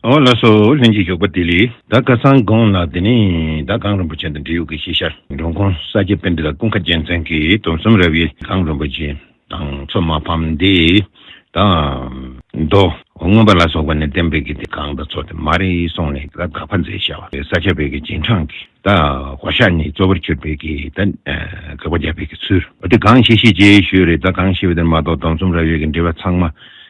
ཨོ་ལ་སོ་ལྷན་ཅིག་ཞོགས་པ་དེ་ལས་ད་སྐལ་བཟང་དགོངས་ལགས་དེ་ནས་ད་གངས་རིན་པོ་ཆེ་དང་འབྲེལ་ཡོད་ཀྱི་ཤེས་བྱ་འབྲོང་ཁུང་ས་སྐྱའི་དཔེ་འདི་ལ་ཀུན་ཁ་རྒྱལ་མཚན་གྱིས་དུམ་གསུམ་རབ་དབྱེ་གངས་རིན་པོ་ཆེ་དང་མཚོ་མ་ཕམ་འདས་དང། མདོམངོན་པ་ལ་སོགས་པ་ནས་བསྟན་པའི་དགེ་དེ་གང་དང་ཚོགས་དེ་མ་རེད་གསུངས་ནས་ད་དགག་པ་མཛད་བྱ་བ་ས་སྐྱ་བོད་ཀྱི་རྗེས་འབྲང་གི། ད་གོ་ཤ་ནི་གཙོ་བོར་གྱུར་པའི་གི་ད་གགས་པ་བརྒྱབ་པའི་གི་ཚུལ། འོ་དེ་གང་ཤེས་ཤེས་རྗེས་ཤོས་རེད་ད་གང་ཤེས་པ་དེར་མ་གཏོགས་གདོང་ཚོམ་ར་བའི་གི་འབྲེལ་བ་ཚང་མ་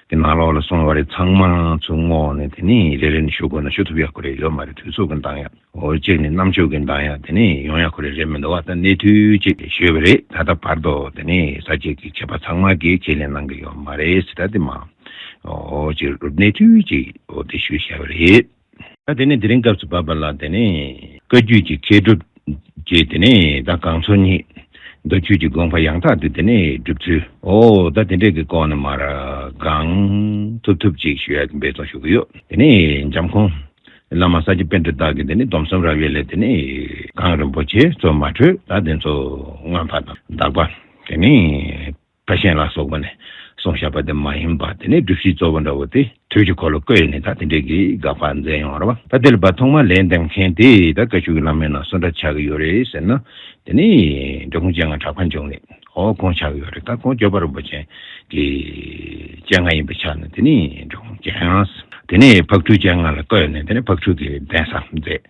གི་ནང་ལོགས་ལ་སོང་བ་རེད་ཚང་མ་ཚུར་བསྔོགས་ནས་དེ་ནས་རེ་རེ་ནས་ཞུ་དགོས་ན་ཞུ་ཐུབ་ཡག་པོ་རེད་ཡོད་མ་རེད་དུས་ཚོགས་གི་འདང་ཡག་འོ་གཅིག་ནས་གནམ་ཆོས་གི་འདང་ཡག་དེ་ནས་ཡོང་ཡག་པོ་རེད་རེད་མི་འདུག་བ་ད་གནས་ཐུལ་ཅིག་ལས་ཞུས་པ་རེད་ད་ལྟ་བར་དུ་དེ་ནས་ས་བཅད་གི་བྱས་པ་ཚང་མ་གི་ཁས་ལེན་གནང་གི་ཡོད་མ་རེད་སི་ད་དེ་མ་འོ་གཅིག་རུ་གནས་ཐུལ་ཅིག་འོ་དེ་ཞུས་ཤེས་པ་རེད། ད་དེ་ནས་དེ་རིང་སྐབས་སུ་བབས་པ་ལ་དེ་ནས་བཀའ་རྒྱུད་ཀྱི་མཁས་གྲུབ་ཀྱིས་དེ་ནས་ད་གང་ཚོགས་གཉིས། མདོ་རྒྱུད་ཀྱི་དགོངས་པ་ཡང་དག་ཏུ་དེ་ནས་བསྒྲུབ་ཚུལ་འོ་ད་དེ་འདྲས་ཀྱི་སྐོར་ནས་མར་གང་ཐུབ་ཐུབ་ཅིག་ཞུ་ཡག་གི་འབད་བརྩོན་ཞུ་གི་ཡོད་དེ་ནས་འཇམ་ཁོང། བླ་མ་ས་སྐྱ་དཔོན་གྲུ་དག་གི་དེ་ནས་སྡོམ་གསུམ་རབ་དབྱེ་ལས་དེ་ནས། གང་རིན་པོ་ཆེ་གཙོ་མ་གྲོས་དག་དེ་ཚོ་མངོན་པ་དང་གདགས་པ་དེ་ནས། བཀའ་བཞིན་ལ་སོགས་པ་ནས་གསུང་བཤད་པ་དེ་མ་ཡིན་པ་དེ་ནི་སྒྲུབ་བྱེད་གཙོ་བོ་འདྲ་བོ་དེ་དུས་ཀྱི་འཁོར་ལོ་བསྐོས་ཡོད་ནས་ད་དེ་འདྲའི་གི་དགག་པ་མཛད་ཡོང་བར་བ་ད་དེ་ལ་བ་ཐོག་མར་ལན་འདེབས་མཁན་དེ་ད་བཀའ་བཅུ་གི་བླ་མའི་ནང་སུ་འདྲ་ཆགས་ཀྱི་ཡོད་རེད་ཟེར་ན་དེ་ནི་འདྲ་ཁུང་བཅད་ང་གྲགས་པ་འབྱུང་རེད་ཧོ་གོང་ཆགས་ཀྱི་ཡོད་རེད་ད་གོང་སྐྱོ་པ་རིན་པོ་ཆེན་གི་བཅད་ང་ཡིན་པ་ཆགས་ནས་དེ་ནི་འདྲ་ཁུང་བཅད་དེ་ནི་ཕག་ཁྲུས་བཅད་ང་ལ་བསྐོས་ནས་དེ་ནི་ཕག་ཁྲུས་གི་གདན་ས་མཛད།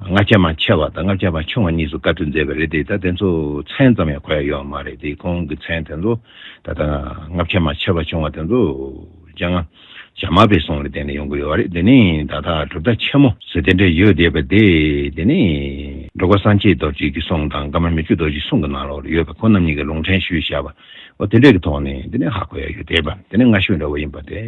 ལྔ་ཆ་མ་ཆེ་བ་དང་ལྔ་ཆ་མ་ཆུང་བ་གཉིས་སུ་བཀར་ཏུ་མཛད་པ་རེད་དེ་ད་དེ་ཚོ་མཚན་ཙམ་ཡང་གོ་ཡ་ཡོད་མ་རེད་དེ་ཁོང་གི་མཚན་དེ་ཚོ་ད་ལྟ་ལྔ་ཆ་མ་ཆེ་བ་ཆུང་བ་དེ་ཚོ་སྤྱང་ལྔ་ཆ་མ་པའི་གསུང་ལ་བརྟེན་ནས་ཡོང་གི་ཡོད་རེད་དེ་ནི་ད་ལྟ་གྲུབ་མཐའ་ཆེན་མོ། ཟེར་དེ་འདྲ་ཡོད་དེ་བ་དེ་དེ་ནི་འགྲོ་ཀ་སངས་རྒྱས་རྡོ་རྗེ་ཀྱི་གསུང་དང་ཀརྨ་མི་བསྐྱོད་རྡོ་རྗེ་གསུང་གི་ནང་ལོགས་ཡོད་པ་ཁོང་རྣམ་གཉིས་ཀྱི་ལུང་ཕྲན་ཞུས་བྱ་བ། འོ་དེ་འདྲས་ཀྱི་ཐོག་ནས་འདི་ནས་ཧ་གོ་ཡ་ཡོད་དེ་བ་དེ་ནས་ང་ཤོད་འདྲ་བོ་ཡིན་པ་དེ་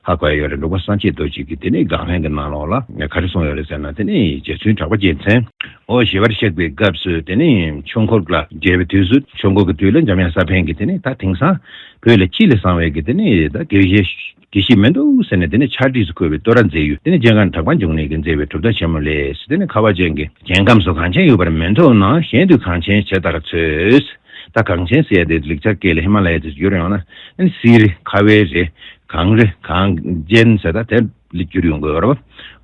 ཧ་གོ་ཡ་ཡོད་རེད་འདུག་པ་སང་ཆེད་རྡོ་གཅིག་གིས་དེ་ནས་དགག་ལན་གྱི་ནང་ལོགས་ལ་ངས་ག་རེ་གསུངས་ཡོད་རེད་ཟེར་ན་དེ་ནས་རྗེ་བཙུན་གྲགས་པ་རྒྱལ་མཚན། འོ་ཞེས་པར་གཤེགས་པའི་སྐབས་སུ་དེ་ནས་ཆོས་འཁོར་ལ་མཇལ་བའི་དུས་སུ་ཆོས་འཁོར་གྱི་དུས་ལ་འཇམ་དབྱངས་ས་པཎ་གྱིས་དེ་ནས་ད་དེང་སང་བོད་ལ་སྤྱི་ལས་བཟང་བས་ཀྱི་དེ་ནས་ད་དགེ་བཤེས་དགེ་ཞིག་མི་འདུག་ཟེར་ནས་དེ་ནས་ཆར་སྒྲིས་སུ་འཁོལ་བའི་ལྟོ་ར་མཛེས་ཡོད་དེ་ནས་སྤྱན་སྔར་གྲགས་པ་འབྱུང་གནས་ཀྱིས་མཛེས་པའི་གྲུབ་མཐའ་ཆེན་མོ་ལས་དེ་ནས་ཁ་བ་ཅན་གྱི། རྒྱལ་ཁམས་སུ་གངས་ཆེན་ཡོད་པར་མི་འཐོབ་ན་གཞན་དུས་གངས་ཆེན་ཇི་ལྟར་འཚོལ། ད་གངས་ཆེན་ཟེར་ཡ་དེ་ལེགས་ཆ་སྐད་ལས་ཧི་མ་ལ་ཡ་ཅེས་བསྒྱུར་ཡོང་ན། དེ་ནི་སི་རི་ཁ་བའི་རི། གངས་རི་གངས་ཅན་ཟེར་ད་དེ་ལས་བསྒྱུར་ཡོང་དགོས་རོ།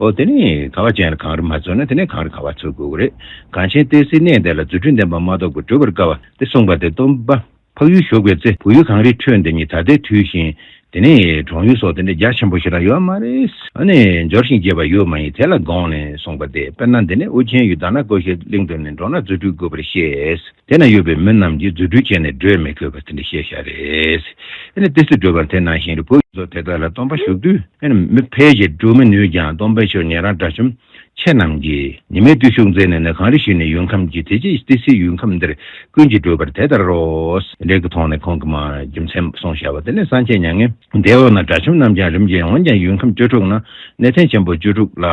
འོ་དེ་ནས་ཁ་བ་ཅན་ལ་གངས་རི་མ་འཚོལ་ན་དེ་ནས་གངས་རི་ཁ་བ་འཚོལ་དགོས་ཀྱི་རེད། གངས་ཆེན་ཏེ་སི་གནས་དེ་ལ་རྫུ་འཕྲུལ་ལྡན་པ་མ་གཏོགས་པའི་གྲོལ་བར་དཀའ་བ་དེ་གསུངས་པ་དེ་སྟོན་པ། འཕགས་ཡུལ་ཞོགས་པའི་ཚེ་བོད་ཡུལ་གངས་རིའི་ཁྲོད་འདི་ཉིད་ད་ལྟའི་དུས་བཞིན། དེ་ནས་གྲོང་ཡུལ་སོགས་འདི་འདྲའི་རྒྱ་ཆེན་པོ་ཞིག་ལ་ཡོད་མ་རེད། ཨ་ནི་འབྱོར་ཞིང་རྒྱས་པ་ཡོད་མ་ཡིན་དེ་ལ་དགོངས་ནས་གསུངས་པ་སྟེ་དཔེར་ན་འདི་ནས་ཨོ་རྒྱན་ཡུལ་དྭགས་ན་ཀོ་ཤའི་གླིང་དུ་ནི་འགྲོ་ན་རྫུ་འཕྲུལ་དགོས་པར་བཤད། དེ་ན་ཡོད་པའི་མི་རྣམས་ཀྱིས་རྫུ་འཕྲུལ་སྤྱད་ནས་བགྲོད་མི་དགོས་པར་དེ་འདྲ་བཤད་བཞག་རེད། ཨ་ནི་དེ་སུས་བགྲོད་པར་དེ་ནང་བཞིན་རི་བོ་ཡུལ་ཚོ་དེ་དག་ལ་སྟོན་པ་བཞུགས་དུས། ཨ་ནི་མི་ཕལ་ཆེར་བགྲོད་མི་ནུས་ཀྱང་སྟོན་པའི་ཆོས་ཉན་རང་འདྲ་བྱུང། ཁྱེད་རྣམས་ཀྱིས་ཉི་མའི་བརྟུལ་ཞུགས་མཛད་ནས་ནི་གངས་རི་ཞུས་ནས་ཡུལ་ཁམས་ཀྱི་དེ་ཅི་སྟེ་སྲིད་ཡུལ་ཁམས་འདིར་ཀུན་གྱིས་བགྲོད་པར་དེ་ལྟར་རོ། འབྲས་བུ་མཐོང་ནས་ཁོང་གི་མ་རྒྱུ་མཚན་སོང་བྱ་བ་དེ་ནས་སངས་རྒྱས་མྱ་ངན་འདས་འོག་ན་དགྲ་བཅོམ་རྣམས་ཀྱང་རིམ་གྱིས་འོངས་ཀྱང་ཡུལ་ཁམས་བཅུ་དྲུག་ན་གནས་བརྟན་ཆེན་པོ་བཅུ་དྲུག་ལ་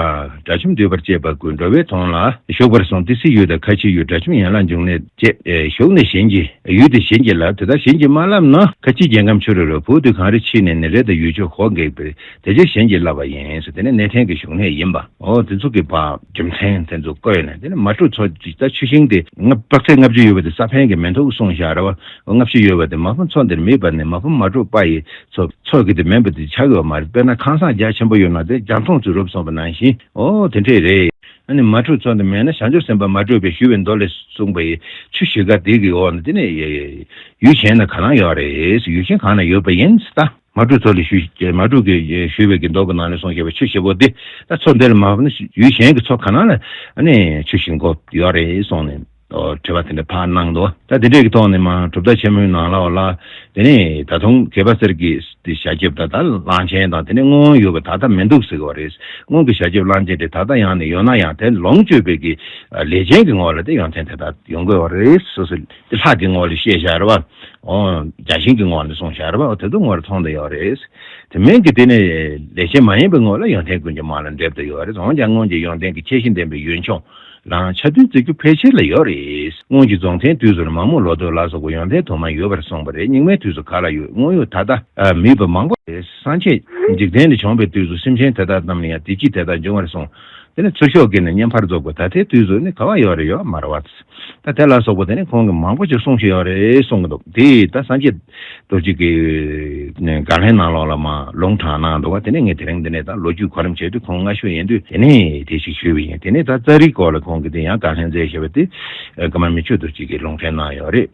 དགྲ་བཅོམ་འདུས་པར་བཅས་པ་ཀུན་འགྲོ་བའི་དོན་ལ་ཞུགས་པར་སོང་སྟེ་སྲིད་ཡུལ་དང་ཁ་ཆེའི་ཡུལ་དགྲ་བཅོམ་ཡན་ལག་འབྱུང་གནས་བཅས་ཞུགས་ནས་གཞན་གྱི་ཡུལ་དེ་བྱིན་གྱིས་བརླབས་དེ་ལྟར་བྱིན་གྱིས་མ་བརླབས་ན་ཁ་ཆེའི་རྒྱལ་ཁམས་ཆུ་རོལ་བའི་བུ་དུད་གངས་རི་ཕྱིས་ནས་ནི་རེ་དང་ཡུལ་ཕྱོགས་ཧོར་འགེགས་པའི་དེ་རྗེས་གཞན་གྱིས་བསླབས་པ་ཡིན། དེ་ནི་གནས་ཕྲན་གྱི་བཞུགས་གནས་ཡིན་པ། འོ་དེ་ཚོ་གི་བ། རྒྱུ་མཚན་དེ་ཚོ་བཀོད་ནས་དེ་ནི་མ་གྲུ་ཚོ་ཇི་ལྟར་ཆུ་ཤིང་དེ། དཔག་ཚད་ལྔ་བཅུ་ཡོད་པ་དེ་ས་ཕན་གྱི་མེ་མཐུག་གསུང་བཞག་ར་བ། ལྔ་བཅུ་ཡོད་པ་དེ་མ་ཕུ་ཚོ་འདིར་མིད་པ་ནི་མ་ཕུ་མ་གྲུ་པ་ཡི་ཚོ། ཚོ་གི་དེ་མེད་པ་དེ་ཆགས་ཡོད་པ་མ་རེད་དཔེར་ན་ཁང་བཟང་རྒྱ་ཆེན་པོ་ཡོད་ན་དེ་རྒྱ་མཐོང་ཚུལ་རུབ་སོང་བ་ནང་བཞིན་འོ་དེ་འདྲས་རེད། ཨ་ནི་མ་གྲུ་ཚོ་འདི་མེད་ན་བྱང་ཆུབ་སེམས་དཔའ་མ་གྲུ་པས་ཞུས་པའི་མདོ་ལས་གསུངས་པ་ཡི་ཆུ་བཞི་ཀ་དེ་གི་འོག་ན་དེ་ནི། ཡུལ་གཞན་ན་ག་ལང་ཡོད་རེད་ཡུལ་གཞན་གང་ན་ཡོད་པ་ཡིན་སྟ། མ་དྲུག་ཚོགས་ལས་ཞུས། མ་དྲུག་གིས་ཞུས་པའི་གྱི་མདོག་གི་ནང་ནས་སོང་ཞེས་པའི་ཆུ་ཞེ་པོ་དེ། ད་ཚོགས་འདི་ལ་མ་ཕབ་ན་ཡུལ་གཞན་གྱི་ཚོགས་གང་ན་ལ་ནི་ཆུ་ཞིག་འགོ་ཡོད་རེད་གསུངས་ནས། དྲི་བ་དེ་འདྲ་ཕར་གནང་འདུག་ད་དེ་འདྲས་ཀྱི་ཐོག་ནས་མ་གྲུབ་མཐའ་ཆེན་མོའི་ནང་ལ་བ་ལ། དེ་ནས་ད་དུང་གད་པ་གསེར་གྱི་དེ་ཞལ་ཁེབས་དང་ད་གླང་ཆེན་དང་དེ་ནས་སྔོན་ཡོད་པ་ད་ལྟ་མི་འདུག་ཟེར་གྱི་བ་རེད། སྔོན་གྱི་ཞལ་ཁེབས་གླང་ཆེན་དེ་ད་ལྟ་ཡང་ནས་ཡོད་ན་ཡང་དེ་ལོངས་སྤྱོད་པའི་གྱི་ལས་ཅན་གྱི་ངོ་བ་ལ་དེ་ཡོང་ཐེངས་དེ་ད་ཡོང་དགོས་བ་རེད། དེ་ལྷ་དེའི་ངོ་ལ་ཤེས་ཤར་བ། བརྒྱ་བྱིན་གྱི་ངོ་ལ་གསུང་ཤར་བ་དེ་ཚོ་ངོ་ལ་མཐོང་དུ་ཡོད་རེད། དེ་མིན་གྱི་དེ་ནི་ལས་ཅན་མ་ཡིན་པའི་ངོ་ལ་ཡོན་ཏན་ཀུན་གྱི་མ་ལ་འདེབས་དུ་ཡོད་རེད་འོན་ཀྱང་སྔོན་གྱི་ཡོན་ཏན་གྱི་ཁྱད་གཤིས་ལྡན་པའི་ཡུལ་ལྗོངས་ལའང་ཆ་མཐུན་བརྩི་རྒྱུ་ཕལ་ཆེར་ལ་ཡོད་རེད། སྔོན་གྱི་རྫོང་ཆེན་དུས་སུ་ནི་མ་མོ་ལོ་ཐོད་ལ་སོགས་པའི་ཡོན་ཏན་དུ་མ་ཡོད་པར་གསུངས་པ་རེད་རྙིང་མའི་དུས་སུ་ག་ལ་ཡོད་དངོས་ཡོད་ད་ལྟ་མེད་པ་མང་པོ་རེད་སངས་རྒྱས་འཇིག་རྟེན་ལས་བྱུང་བའི་དུས་སུ་སེམས་ཅན་དེ་དག་རྣམས་ལ་ཡང་དེ་སྐྱིད་དེ་དག་འབྱུང་བར་གསུངས་དེ་ནི་ཚུར་ཤོག་གིས་ནི་བསྙེན་པར་རྫོགས་པ་ད་ལྟའི་དུས་སུ་ནི་ག་བ་ཡོད་རེད་ཡོད་མ་རེད་བ། ད་དེ་ལ་སོགས་པ་དེ་ནས་ཁོང་གིས་མང་པོ་ཞིག་གསུངས་ཤེས་ཡོད་རེད་གསུངས་གི་འདུག་དེ་ད་སངས་རྒྱས་རྡོ་རྗེ་གི་དགའ་ལྷའི་ནང་ལོགས་ལ་མ་ལུང་དྲངས་གནང་འདུག་བ་དེ་ནས་ངས་དེ་རིང་འདི་ནས་ད་ལོ་རྒྱུས་གོ་རིམ་བྱས་དུས་ཁོང་སྔ་ཤོས་ཡིན་དུས་དེ་ནས་དེ་ཞིག་ཞུས་པ་ཡིན་དེ་ནས་ད་རྩ་རིག་སྐོར་ལ་ཁོང་གིས་དེ་ཡང་དགའ་ལྷན་རྩེ་ཞེས་པ་དེ་དགའ་མ་མི་ཆོས་རྡོ་རྗེ་གིས་ལུང་འདྲེན་གནང་ཡོད་རེད།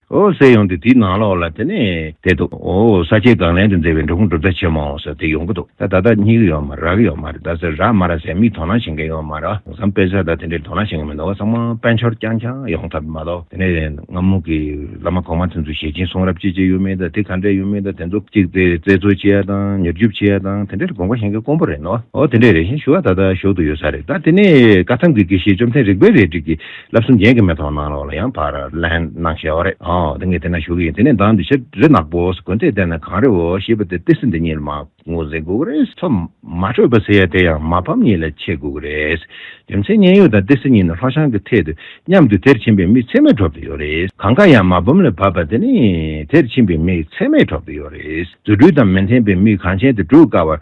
ཨོ་གསལ་ཡོང་དུས་དེའི་ནང་ལོགས་ལ་དེ་ནས་དེ་འདུག་ཨོ་ས་ཆའི་སྒང་ལན་དུ་མཛེས་པའི་འབྲོག་ཁུང་གྲུབ་མཐའ་ཆེན་མོ་ཟེར་དེ་ཡོང་གི་འདུག་ད་ད་ད་སྙིགས་རིགས་ཡོད་མ་རེད་རག་གི་ཡོད་མ་རེད་ད་ཟེར་རག་མ་རག་ཟེར་མིས་དོ་སྣང་བྱེད་མཁན་ཡོད་མ་རེད་བསམ་དཔེ་ཟེར་ད་དེ་འདྲའི་དོ་སྣང་བྱེད་མཁན་མི་འདུག་ཚང་མ་དཔལ་འབྱོར་རྐྱང་རྐྱང་ཡོང་ཐབས་མ་གཏོགས་དེ་ནས་སྔ་མོ་གི་བླ་མ་གོང་མ་དེ་ཚོ་ཞལ་སྐྱིན་གསུང་རབ་ཅི་ཅི་ཡོད་མེད་ད་དེ་ག་འདྲ་ཡོད་མེད་ད་དེ་ཚོ་གཅིག་དེ་བཙལ་འཚོལ་བྱེད་ཡ་དང་ཉེར་སྒྱུབ་བྱེད་ཡ་དང་དེ་འདྲའི་དགོངས་པ་བཞེངས་མཁན་དཀོན་པོ་རེད་འདུག་ཨོ་དེ་འདྲའི་རེ་བཞེངས་ཞུ་བ་ད་ད་ཞོག་ཏུ་ཡོད་ས་རེད་ད་དེ་ནས་བཀའ་ཐང་གི་དགེ་བཤེས་བཅོམ་ལྡན་རིག་པའི་རས་བྲིས་ཀྱི་ལབ་གསུམ་རྒྱན་གྱི་མེ་ཏོག་གནང་རོགས་ལ་ཡང་བར་ལན་གནང་ཞེས་བ་རེད་ཨོ་དེ་ངས་དེ་ན་ཞུ་གི་ཡིན་དེ་ནས་ད་འདི་ཕྱིར་རི་ནག་པོ་དགོན་དེ་བསྡད་ན་གང་རེད་འོ་ཞེས་པ་དེ་ལྟས་སི་འདི་གཉིས་ལ་མ་ངུ་ཟེར་དགོས་ཀྱི་རེད། ཚོ་མ་འཕྲོད་པ་ཟེར་ཡ་དེ་ཡང་མ་ཕམ་གཉིས་ལ་ཆད་དགོས་ཀྱི་རེད། རྒྱུ་མཚན་མཉན་ཡོད་དང་ལྟས་སི་གཉིས་ནི་ལྷོ་བྱང་གི་ཐད་དུ་མཉམ་དུ་དེར་ཕྱིན་པའི་མི་ཚད་མའི་གྲོགས་དེ་ཡོད་རེད་གང་དགའ་ཡང་མ་བུམ་ལ་བབས་པ་དེ་ནི་དེར་ཕྱིན་པའི་མི་ཚད་མའི་གྲོགས་དེ་ཡོད་རེད་རྫུ་འཕྲུལ་དང་མི་མཐན་པའི་མི་གང་ཆེན་དེ་བསྒྲུག་དཀའ་བར།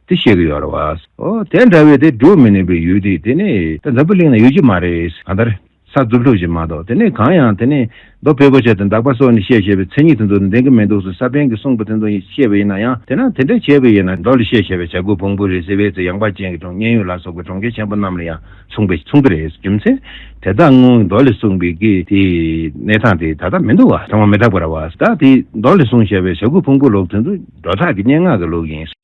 དེ་བཤད་གི་ཡོད་རེད་བ། ཨོ། དེ་འདྲ་བའི་དེ་འགྲོ་མི་ནུས་པའི་ཡུལ་དེ་དེ་ནི་ད་འཛམ་བུ་གླིང་ན་ཡོད་ཀྱི་མ་རེད། གང་ལྟར། ས་རྫུབ་ལྷུབ་ཞིག་མ་གཏོགས་དེ་ནི་གང་ཡང་དེ་ནི་རྡོ་བེ་གོ་ཆ་དང་འདག་པ་སོགས་ནི་བཤད་བྱས་པའི་མཚན་ཉིད་དེ་ཚོ་ནི་ལྡན་གི་མི་འདུག་ཟེར་ས་པན་གྱིས་གསུངས་པ་དེ་ཚོ་ཡིན་ཤེས་པ་ཡིན་ན་ཡང་དེ་ན་དེ་འདྲ་བྱས་པ་ཡིན་ན་མདོ་ལ་བཤད་བྱས་པའི་བྱ་རྒོད་བོང་བུ་རེད་ཟེར་བའི་ཚེ་ཡངས་པ་ཅན་གྱི་གྲོང་སྙན་ཡུལ་ལ་སོགས་པའི་གྲོང་ཁྱེར་ཆེན་པོ་རྣམས་ལ་ཡང་མཚུངས་པས་མཚུངས་ཀྱི་རེད་རྒྱུ་མཚན། དེ་དག་སྔོན་གྱི་མདོ་ལས་གསུངས་པའི་གི་དེ་གནས་སྟངས་དེ་ད་ལྟ་མི་འདུག་བ་ཚང་མ་མི་དག་པ་རེད་བ། ད་དེ་མདོ་ལས་གསུངས་བྱས་པའི་བྱ་རྒོད་བོང་བུ་ལུགས་དེ་ཚོ་སྒྲོ་བཏགས་ཀྱི་སྙན་ངག་གི་ལུགས་ཡིན།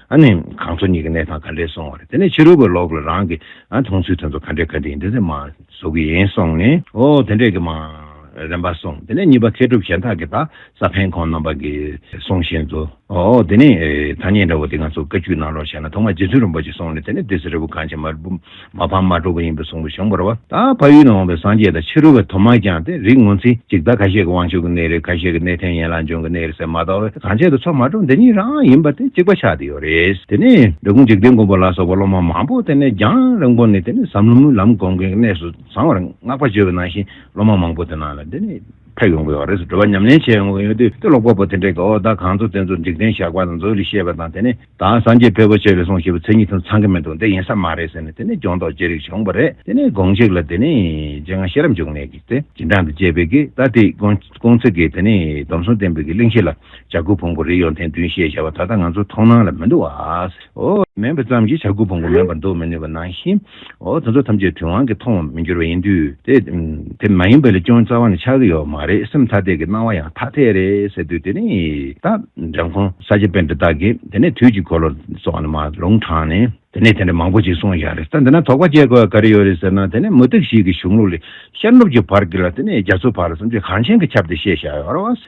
ཨ་ནི་གང་ཚོ་གཉིས་ཀྱི་གནས་སྟངས་ག་འདྲས་སོང་བ་རེད་དེ་ནས་ཕྱི་རོལ་པོས་ལོག་ལ་རང་གི་མཐོང་ཚུལ་དོན་དུ་ག་འདྲས་ག་འདྲས་ཡིན་དེ་ཚོད་མ་ཟོ་གི་ཡིན་སོང་ནས་ཨོ་དེ་འདྲས་ཀྱི་མ་རན་པ་སོང་དེ་ནས་གཉིས་པ་མཁས་གྲུབ་གཞན་དག་གིས་ད་ས་ཕན་ཁོང་རྣམ་པ་གི་གསུང་བཞིན་དུ་ཨོ་དེ་ནས་ཐ་སྙད་འདྲ་བོ་དེ་ང་ཚོ་བཀའ་བཅུ་གནང་རོགས་བྱས་ན་ཐོག་མ་རྗེ་བཙུན་རིན་པོ་ཆེ་སོང་ནས་དེ་ནས་དེ་ཟེར་རི་བོ་གངས་ཅན་མར་མ་ཕམ་མ་དཀྲུགས་པ་ཡིན་པས་གཟུངས་པ་གཞུང་བོར་བ་དང་ཕ་ཡུལ་ནས་འོངས་པའི་སངས་རྒྱས་དང་ཕྱི་རོལ་བའི་དུ་མ་རྐྱང་སྟེ་རིགས་ངོ་མཚན་གཅིག་ད་ག་ཤེད་ཀྱི་དབང་ཕྱུག་གི་གནས་རེད་ག་ཤེད་ཀྱི་གནས་ཐན་ཡན་ལག་འབྱུང་གི་གནས་རེད་ཟེར་མ་གཏོགས་བས་གང་བྱས་དུ་ཚོགས་མ་དཀྲུགས་འདི་གཉིས་རང་ཡིན་པ་དེ་གཅིག་པ་ཆགས་ཏེ་ཡོད་རེད་དེ་ནས་འབྲི་གུང་འཇིག་རྟེན་མགོན་པོ་ལ་སོགས་པ་སློབ་མ་མང་པོ་དེ་ནས་རྒྱང་རིང་པོ་ནས་དེ་ནས་ཟམ་ལྷོ་མོའི་ལམ་དགོན་མཁན་གྱི་གནས་སུ་བཟང་བར་བསྔགས་པ་བརྗོད་པ་ནང་བཞིན་སློབ་མ་མང་པོ་དེ་ནང་ལ་འདི་ནས་ཕེབས་ཡོང་གི་ཡོད་རེད་ཟེར་བྲོ་བ་ཉམས་ལེན་བྱས་ཡོང་གི་ཡོད་དུས་དེ་ཀློག་པ་པོ་དེ་འདྲས་ཀྱིས་འོ་ད་གང་ཚོགས་དེ་ཚོ་འཇིག་རྟེན་ཞགས་པ་དང་མཛོད་ལས་བཤད་པ་དང་དེ་ནས་དང་སངས་རྒྱས་ཕལ་པོ་ཆེ་ལས་སོང་ཞེས་པའི་མཚན་ཉིད་དང་ཚང་གི་མི་འདུག་འདི་ཡིན་ས་མ་རེད་ཟེར་ནས་དེ་ནས་སྦྱོང་རྟོག་ཅི་རིགས་བྱུང་བ་རེད་དེ་ནས་དགོངས་གཅིག་ལ་དེ་ནས་རྗེ་ང་ཤེས་རབ་འབྱུང་གནས་ཀྱིས་དེ་སྦྱིན་བསྒྲགས་འདི་བཅས་པས་ཀྱི་ད་དེ་སྐོང་ཚིག་གིས་དེ་ནས་སྡོམ་གསུམ་བསྟན་པའི་ཀྱི་གླིང་བཞི་ལ་བྱ་རྒོད་བོང་བུ་རི་ཡོ་མཐའི་མདུན་ཞེས་བྱ་བ་ད་ལྟ་ང་ཚོའི་མཐོང་སྣང་ལ་མི་འདུག་བ། མེད་པ་ཙམ་གྱིས་བྱ་རྒོད་བོང་བུ་མེད་པར་འདོགས་མི་ནུས་པ་ནང་བཞིན། འོ་དེ་ཚོ་ཐམས་ཅད་དུས་དབང་གིས་མཐོང་བར་མི་འགྱུར་བ་ཡིན་དུས། དེ་མ་ཡིན་པ་ལས་ཅུང་རྩ་བ་ནས་ཆགས་ཀྱི་ཡོད་མ་རེད་སེམས་ཐ་དད་ཀྱི་སྣང་བ་ཡང་ཐ་དད་རེད་ཟེར་དུས་དེ་ནས་ད་རང་ཁོང་ས་ཆ་པན་ཏྲི་དག་གིས་དེ་ནས་དུས་ཀྱི་འཁོར་ལོ་སོགས་ནས་མ་ལུང་དྲངས་ནས་དེ་ནས་དེ་འདྲ་མང་པོ་ཅིག་གསུངས་ཡ་རེད་ད་འདི་ན་དོགས་པ་སྐྱེ་དགོས་པ་ག་རེ་ཡོད་རེད་ཟེར་ན་དེ་ནས་མུ་སྟེགས་ཞིག་གི་གཞུང་ལུགས་ལས་ཤར་ནུབ་ཀྱི་བར་གྱི་ལ་དེ་ནས་རྒྱ་མཚོའི་བར་ལ་སེམས་ཅན་གངས་ཆེན་གྱི་ཁྱབ་སྟེ་བཤད་བཞག་ཡོད་རེད།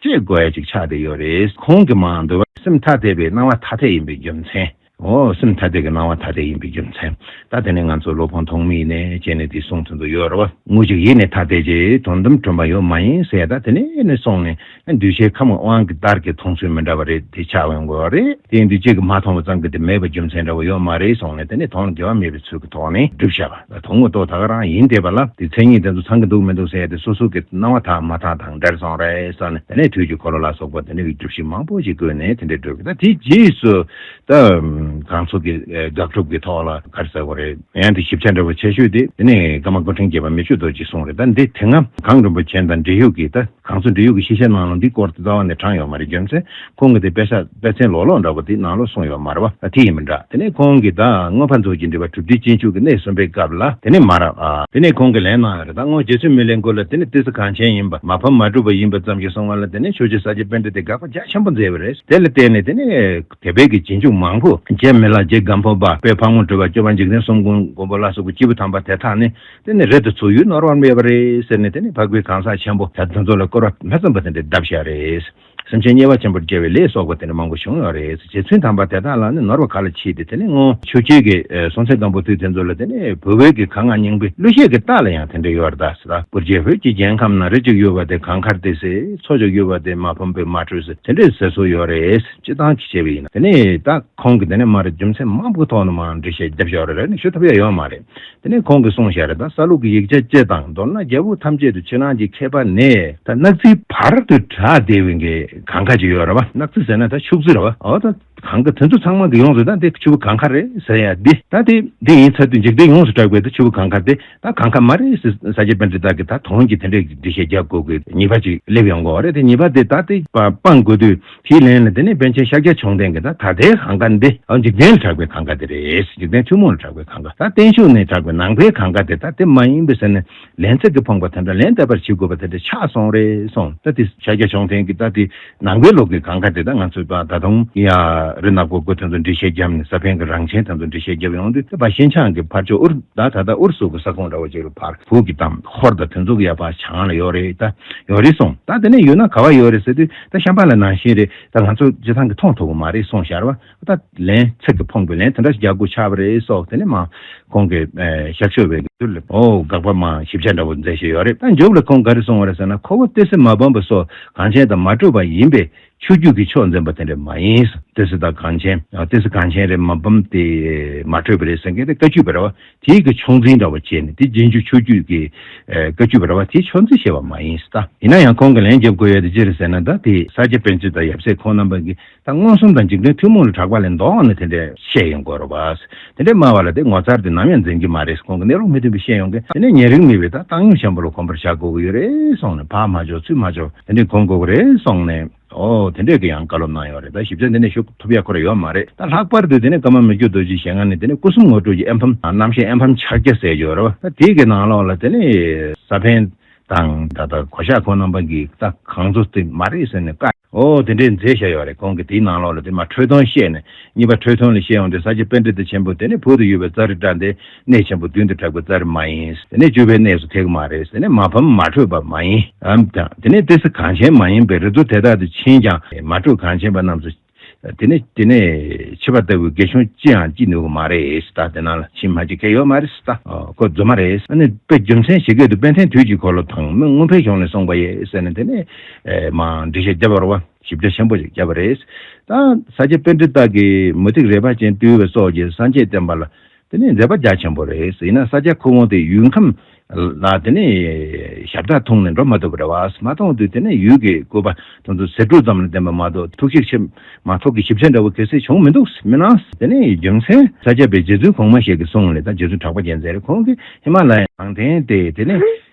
ཅེས་དགོས་ཅིག་ཆགས་བསྡད་ཡོད་རེད། ཁོང་གི་མང་དུ་སེམས་ཐ་དད་པའི་སྣང་བ་ཐ་དད་ཡིན་པའི་རྒྱུ་མཚན། འོ་སེམས་ཐ་དད་ཀྱི་སྣང་བ་ཐ་དད་ཡིན་པའི་རྒྱུ་མཚན། ད་དེ་ནས་ང་ཚོ་སློབ་དཔོན་ཐོགས་མེད་ནས་བྱས་ནས་དེ་གསུངས་ཐུན་དུ་ཡོད་རོ། ངུ་ཅིག་ཡིད་ནི་ཐ་དད་ཅེས་དོན་དམ་དྲན་པ་ཡོད་མ་ཡིན་ཟེར་ད་དེ་ནས་ནས་སོང་ནས་གདུལ་བྱའི་ཁམས་ཀྱི་དབང་གི་བརྡར་གྱི་མཐོང་ཚུལ་མི་འདྲ་བ་རེད་དེ་ཆགས་འོན་དགོས་རེད་དེ་འདུས་བྱས་ཀྱི་མ་མཐོང་བ་ཙམ་གྱི་དེ་མེད་པ་རྒྱུ་མཚན་འདྲ་བོ་ཡོད་མ་རེད་སོང་ནས་དེ་ནས་དོན་དགེ་བ་མེད་པའི་ཚུལ་གྱི་ཐོག་ནས་བསྒྲུབ་བྱ། དོགས་མི་དོགས་ད་ག་རང་ཡིན་དེ་པ་ལ་དེ་མཚན་ཉིད་དེ་ཚོ་ཚང་གི་འདུག་མི་འདུག་ཟེར་ཡ་དེ་སོ་སོ་གི་སྣང་བ་དག་མ་དག་དང་འདྲེར་སོང་རེད་བསམ་ནས་དེ་ནས་དུས་ཀྱི་འཁོར་ལོ་ལ་སོགས་པ་དེ་འདྲ་གི་རྒྱུ་བཞི་མང་པོ་ཞིག་བཀོད་ནས་དེ་འདྲས་བགྲོད་དགོས་ད་དེའི་རྗེས་སུ་ད་གང་ཚོ་གི་དགག་སྒྲུབ་ཀྱི་ཐོག་ལ་ག་རེ་ཟེར་བ་རེད་ཡང་དེ་ཞིབ་ཆ་འདྲ་བོ་ཆེ་ཤོས་དེ་དེ་ནས་ཀརྨ་སྐུ་ཕྲེང་བརྒྱད་པ་མི་ཆོས་རྡོ་རྗེས་གསུངས་རེད་ད་འདི་དེ་སྔ་གངས་རིན་པོ་ཆེན་དང་འབྲེལ་ཡོད་ཀྱི་ད། གངས་ཚོ་འབྲི་གཡུག་གི་ཤེས་བྱའི་ནང་ལོ་འདིའི་སྐོར་དེ་རྩ་བ་ནས་དྲངས་ཡོད་མ་རེད་རྒྱུ་མཚན་ཁོང་གི་དེ་དཔེ་ཆ་དཔེ་ཚན་ལོག་ལོག་འདྲ་པོ་དེ་ནང་ལོག་སོང་ཡོད་མ་རེད་བ་དེ་ཡིན་མིན་འདྲ་དེ་ནས་ཁོང་གིས་ད་སྔོན་ཕར་ཚོགས་ཀྱི་འདྲི་བ་གྲུབ་བསྡུས་སྤྱི་འཆུག་གི་གནས་གསུམ་པའི་སྐབས་ལ་དེ་ནས་མ་རེད་བ། དེ་ནས་ཁོང་གིས་ལན་གནང་ཡོད་རེད་ད་སྔོན་རྗེ་བཙུན་མི་ལའི་མགུར་ལ་དེ་ནས་ཏི་སེ་གངས་ཆེན་ཡིན་པ་མ་ཕམ་མ་གྲུབ་པ་ཡིན་པ་ཙམ་གྱིས་སོང་བ་ལ་དེ་ནས་ཆོས་རྗེ་ས་སྐྱའི་དཔོན་འདི་དེ་དགག་པ་རྒྱ་ཆེན་པོ་མཛད་བས་རེད་དེ་ལ་བརྟེན་ནས་དེ་ནས་དད་པའི་གི་རྗེས་འཇུག་མང་པོ། རྗེ་མི་ལ་རྗེ་སྒམ་པོ་པ་པོའི་ཕག་མོ་སྒྲོལ་བ་སྐྱོ་བ་འཇིག་རྟེན་གསུམ་མགོན་མགོན་པོ་བླ་སོགས་ཀྱི་སྐྱེས་བུ་དམ་པ་དེ་དག་ནི་དེ་ནས་རེད་དེ་ཚོ་ཡུལ་ནོར་བར་མེད་པ་རེད་ཟེར་ནས་དེ་ནས་ཕག་པའི་གང་ཟག་ཆེན་པོ་དེ་ཚོ་ལ་བསྐོར་བ་མེ་ཙམ་པ་དེ་འདྲས་བརྡབ་བཞག་རེད། སེམས་ཅན་དམྱལ་བ་ཆེན་པོར་སྐྱེ་བའི་ལས་སོགས་པ་དེ་འདྲ་མང་པོ་བྱུང་ཡོད་རེད་རྗེ་བཙུན་དམ་པ་དེ་དག་ལ་ནི་ནོར་བ་ག་ལ་མཆིས་ཏེ་དེ་ནས་སྔོན་ཆོས་རྒྱལ་གྱི་སྲོང་བཙན་སྒམ་པོ་དུས་དེ་ཚོ་ལ་དེ་ནས་བུ་བོད་ཀྱི་གངས་ལྔ་སྙིང་པོའི་གླུ་གཞས་ཀྱི་རྟགས་ལ་ཡང་དེ་འདྲས་ཡོད་རེད་ད། གུར་རྗེ་བོད་ཀྱི་རྒྱལ་ཁམས་ན་རི་གཅིག་ཡོད་པ་དེ་གངས་དཀར་ཏེ་ཟེར་མཚོ་གཅིག་ཡོད་པ་དེ་མ་ཕམ་པའི་མ་དྲོས་ཟེར་དེ་འདྲས་ཟེར་སྲོལ་ཡོད་རེད་སྤྱི་བཏང་གཅིག་བྱས་པ་ཡིན་ན་དེ་ནས་ད་ཁོང་གིས་དེ་ནས་མ་རེད་རྒྱུ་མཚན་མང་པོའི་ཐོག་ནས་མང་འབྲེལ་བཤད་བརྒྱབ་བཞག་རེད་རེད་ནས་ཞུ་ཐུབ་ཡ་ཡོད་མ་རེད། དེ་ནས་ཁོང་གིས་གསུང་བཤད་རེ་དང་ས་ལུགས་ཀྱི་ཡིག་ཆ་བཅས་དང་མདོར་ན་རྒྱལ་པོ་ཐམས་ཅད་དུ་ཕྱི་ནང་གི་མཁས་པ་ནས། ད་གནག་རྩིའི་བར་དུ་གྲགས་བདེ་བའི་གངས་ཁ་ཅིག་ཡོད་ར་བ་གནག་རྩི་ཟེར་ན་ད་ཕྱུགས་རྩི་ར་བ་འོ་ད་གངས་ཁ་དེ་ཚོ་ཚང་མ་གི་ཡོངས་སུ་ད་དེ་ཆུ་བོ་གངས་ཁ་རེད་ཟེར་ཡ་དེ་ད་དེ་དེ་ཡིན་ཚད་དུ་འཇིག་རྟེན་ཡོངས་སུ་གྲགས་པའི་ད་ཆུ་བོ་གངས་ཁ་དེ་ད་གངས་ཁ་མ་རེད་ཟེར་ས་ཆ་པན་ཏྲི་དག་གིས་ད་དོན་གྱི་དེ་འདྲའི་འགྲེལ་བཤད་རྒྱག་དགོས་གི་ཉིས་པ་ཅིག་སླེབས་ཡོང་གི་འོ་རེད་དེ་ཉིས་པ་དེ་ད་དེ་སྤང་དགོས་དུས། དེའི་ལན་ལ་དེ་ནི་པཎ་ཆེན་ཤཱཀྱ་བྱུང་ལྡན་གྱི་ད་ད་ལྟའི་གངས་དཀར་འདི་འཇིག་རྟེན་ལ་གྲགས་པའི་གངས་དཀར་དེ་རེད་འཇིག་རྟེན་ཐུན་མོང་ལ་གྲགས་པའི་གངས་དཀར་ད་བརྟན་བཞུགས་ནས་གྲགས་པའི་ནང་པའི་གངས་དཀར་དེ་ད་དེ་མ་ཡིན་པས་ཟེར་ནས་ལན་ཚིག་གིས་ཕངས་པ་དེ་འདྲ་ལན་བཏབ་པར་བྱེད་དགོས་པ་དེ་འདྲ་ཆགས་སོང་རེད་སོང་ད་དེ་ཤཱཀྱ་བྱུང་ལྡན་གྱི་ད་དེ་ནང་པའི་ལུགས་ཀྱི་གངས་དཀར་དེ་ད་ང་ཚོས་ད་དུང་ཡ། རི་ནག་པོ་དགུ་དེ་ཚོ་འབྲི་བཤད་བརྒྱབ་ནས་ས་པཎ་གྱི་རང་བྱན་དེ་ཚོ་འབྲི་བཤད་བརྒྱབ་ཡོང་དུས་ད་བ་ཤིན་ཆང་གི་ཕར་ཕྱོགས་ཨུར་ད་ད་ད་ཨུར་སུ་གི་ས་ཁོངས་འདྲ་བ་ཅིག་རུ་བར་བུག་གི་ཏམ་ཧོར་ད་དེ་ཚོ་གི་ཡ་བ་བྱང་ལ་ཡོད་རེད་ད་ཡོད་རེད་སོང་ད་དེ་ནས་ཡོད་ན་ག་བ་ཡོད་རེད་ཟེར་དུས། ད་ཤམ་པ་ལ་ནང་བཞིན་རེད་ད་ང་ཚོ་རྗེ་ཚང་གི་མཐོང་ཐུབ་པོ་མ་རེད་སོང་ཤར་བ་ད་ལན་ཚིག་གི་ཕོངས་པའི་ལན་དེ་འདྲ་ཞིག་རྒྱག་དགོས་ཆགས་པ་རེད་སོགས་དེ་ནས་མ་གོང་གི་ཞབས་ཞུ་བའི་དུས་ལ་ཨོ་དགག་པ་མ་ཞིབ་ཆ་འདྲ་བོ་མཛད་བཞིན་ཡོད་རེད་ད་མཇུག་ལ་ཁོང་ག་རེ་སོང་བ་རེད་ཟེར་ན་ཁོ་བོ་སྟོད་སི་མ་བོན་པོ་སོགས་གངས་ཆེན་དང་མ་གྲུབ་པ་ཡིན་པས་ཆོས་རྒྱུད་ཀྱི་ཕྱོགས་འཛིན་པ་དེ་འདྲ་མ་ཡིན་སོ་སྟོད་སི་དང་གངས་ཆེན་སྟོད་སི་གངས་ཆེན་རེད་མ་བོན་དེ་མ་གྲུབ་པ་རེད་ཟེར་མཁན་དེ་བཀའ་བརྒྱུད་པ་རེད་བ། དེས་ཀྱི་ཕྱོགས་འཛིན་ར་བ་བྱས་ནས་དེ་རྗེས་འཇུག་ཆོས་རྒྱུད་ཀྱི། བཀའ་རྒྱུད་པ་ར་བ་དེ་ཕྱོགས་འཛིན་བྱས་པ་མ་ཡིན་སྟ། ཡིན་ན་ཡང་ཁོང་གིས་ལན་བརྒྱབ་དགོས་ཡོད་དེ་ཅི་རེད་ཟེར་ན་ད་དེ་ས་སྐྱ་པན་ཚུན་དང་ཡབ་སྲས་ཁོང་རྣམ་པ་གིས་ད་མངོན་སུམ་དང་འཇིག་རྟེན་ཐུན་མོང་ལ་གྲགས་པ་ལས་མདོ་འང་ནི་དེ་འདྲའི་བཤད་ཡོང་དགོས་རོ་བ། དེ་འདྲའི་སྨྲ་བ་ལ་དེ་ངོ་མཚར་ཏེ་ནམ་ཡང་འཛིན་གྱི་མ་རེད་ཁོང་གི་གནས་ལུགས་མི་མཐུན་པའི་བཤད་ཡོང་གི་དེ་ནས་ཉེ་རིང་མི་བས་ད་བཏང་སྙོམས་ཆེན་པོ་ལ་གོམས་པར་བྱ་དགོས་ཀྱི་ཡོད་རེད་སོང་ནས་བག་མ་འཇོག་ཚུལ་མ་འཇོག་དེ་འདྲའི་གོམས་དགོས་ཀྱི་རེད་སོང་ནས། ཨོ། དེ་འདྲས་ཀྱི་ཡང་བཀའ་སློབ་གནང་ཡོད་རེད་ད་ཞིབ་ཚགས་འདི་ནས་ཞུ་ཐུབ་ཡག་ཁོ་ར་ཡོད་མ་རེད་ད་ལྷག་པར་དུ་དེ་ནས་ཀརྨ་མི་བསྐྱོད་རྡོ་རྗེའི་ཞལ་སྔ་ནས་དེ་ནས་སྐུ་གསུམ་ངོ་སྤྲོད་ཀྱི་ཨེམ་ཕམ་རྣམ་བཤད་ཨེམ་ཕམ་ཕྱག་རྒྱ་ཟེར་ཡོད་རེད་བ་ད་དེའི་གི་ནང་ལོགས་ལ་དེ་ནས་ས་ཕན་དང་ད་ལྟ་གོ་ཤག་ཁོང་རྣམ་པ་གི་ད་གང་ཚོ་དེ་མ་རེད་ཟེར་ནས་བཀའ་ཨོ་དེ་འདྲས་མཛད་བཞག་ཡོད་རེད་ཁོང་གི་དེའི་ནང་ལོགས་ལ་དེ་མ་ཁྲོས་ཐོང་བཤད་ནས་གཉིས་པ་ཁྲོས་ཐོང་ལས་བཤད་འོང་དེ་ས་སྐྱ་དཔེ་འདྲེ་དེ་ཆེན་པོ་དེ་ནས་བུ་དེ་ཡོད་པའི་རྩ་རི་བཀྲ་འདི། གནས་ཆེན་པོ་བདུན་དུ་གྲགས་པའི་རྩ་རེ་མ་ཡིན། དེ་ནས་བཅུ་པའི་གནས་སུ་ཐེག་མ་རེ་མ་ཕམ་མ་དྲོས་པ་མ་ཡིན། དེ་ནས་ཏི་སེ་གངས་ཆེན་མ་ཡིན་པའི་རི་རྡོ་དེ་དག་ཏུ་ཕྱིན་ཀྱང་མ་དྲོས་གངས་ཆེན་པ་རྣམས་སུ། དེ་ནས་དེ་ནས་ཕྱི་པ་ལྟ་བུའི་དགེ་སྦྱོང་ཅིའང་ཅི་ནུས་གོ་མ་རེ་ད་དེ་ན་ལ་ཕྱིན་མ་ཅི་ཁེ་ཡོད་མ་རེ་ད་ཁོ་རྫུན་མ་རེ། དེ་ནས་དཔེ་རྒྱུ་མཚན་ཇི་སྐད་དུ་དཔལ་ལྡན་དུས་ཀྱི་འཁོར་ལོ་དང་མི་མངོན་འཕེལ་གཞུང་ལས་གསུངས་པ་ཡེ་ཟེར་ནས་དེ་ནས་མ་འདྲི་ཞེས་བརྒྱ་པར་བ་ཞིབ་ཆ་ཆེན་པོ་ཞིག་བརྒྱ་པ་རེ་ད་ས་སྐྱའི་དཔེ་འདི་དག་གིས་མུ་ཏིག་རལ་པ་ཅན་བཏུལ་བའི་སོགས་ཀྱིས་སངས་རྒྱས་བསྟན་པ་ལ་དེ་ནི་མཛེས་པ་རྒྱ་ཆེན་པོ་རེད་ཡིན་ན་ས་སྐྱ་ཁུ་བོང་དེ་ཡུལ་ཁམས་ལ་དེ་ནི་ཞབས་བྲག་འཐུང་ནས་འགྲོ་མ་ཐུབ་པ་རེད་བ་མ་མཐོང་དུས་དེ་ནི་ཡུལ་གྱི་བཀོད་པ་དང་དུ་ཟེར་དྲུག་ཙམ་ལ་བདེན་པ་མ་གཏོགས་ཐུགས་ཞིབ་ཆེ་མ་ཐོག་གི་ཞིབ་ཆ་འདྲ་བོ་གལ་སྲིད་བྱུང་མི་འདུག་མི་སྣང་དེ་ནི་རྒྱུ་མཚན་ས་སྐྱ་པའི་རྗེ་བཙུན་གོང་མ་ཞིག་གིས་གསུངས་ལེ་དང་རྗེ་བཙུན་གྲགས་པ་རྒྱལ་མཚན་རེད་ཁོང་གིས་ཧི་མ་ལ་ཡ་ནང་བསྟན་ཏེ་དེ་ནི་